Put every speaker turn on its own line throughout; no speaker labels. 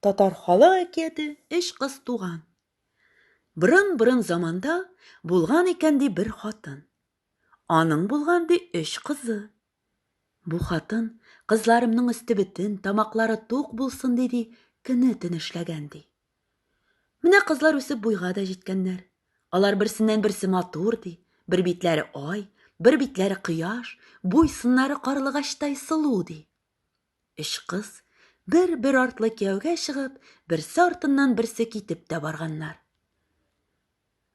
Татар халык әкияте Эш кыз туган. Борын-борын заманда булган икән ди бер хатын. Аның булган ди өч кызы. Бу хатын кызларымның өсте бетен, тамаклары тук булсын диди, көне-төне эшләгән ди. Менә кызлар үсеп буйга да җиткәннәр. Алар берсеннән-берсе матур, ди. Бер битләре ай, бер битләре кояш, буй-сыннары карлыгачтай сылу, ди. Өч кыз бер-бер артлы кияүгә чыгып, берсе артыннан берсе китеп тә барганнар.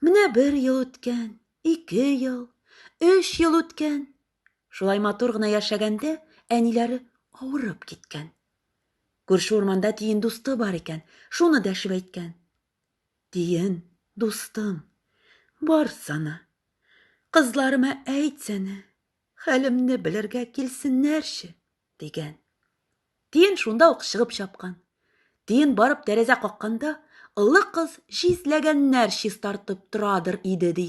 Менә бер ел үткән, ике ел, өч ел үткән. Шулай матур гына яшәгәндә, әниләре авырып киткән. Күрше урманда тиен дусты бар икән, шуны дәшеп әйткән. Тиен, дустым, барсана. Кызларыма әйтсәнә, хәлемне белергә килсеннәрче, дигән. Тиен шунда ук чыгып чапкан. Тиен барып тәрәзә какканда, олы кыз числәгәннәр чистартып торадыр иде, ди.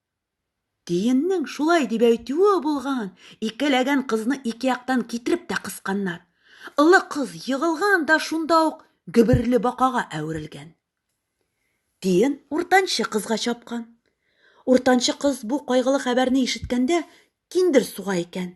Тиеннең шулай дип әйтүе булган, икеләгән кызны ике яктан китереп тә кысканнар. Олы кыз егылган да шунда ук гөберле бакага әверелгән. Тиен уртанчы кызга чапкан. Уртанчы кыз бу кайгылы хәбәрне ишеткәндә киндер суга икән.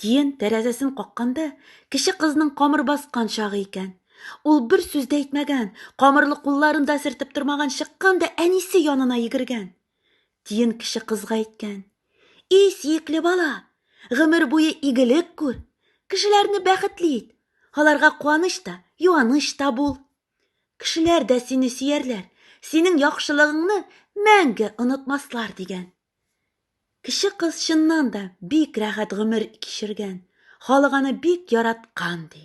Тиен тәрәзәсен какканда, кече кызның камыр баскан чагы икән. Ул бер сүз дә әйтмәгән, камырлы кулларын да сертеп тормаган, чыккан да әнисе янына йөгергән. Тиен кече кызга әйткән. И, сиекле бала, гомер буе игелек күр, кешеләрне бәхетле ит, аларга куаныч та, юаныч та бул. Кешеләр дә сине сөярләр, синең яхшылыгыңны мәңге онытмаслар, дигән. Кече кыз чыннан да бик рәхәт гомер кичергән, халык аны бик яраткан, ди.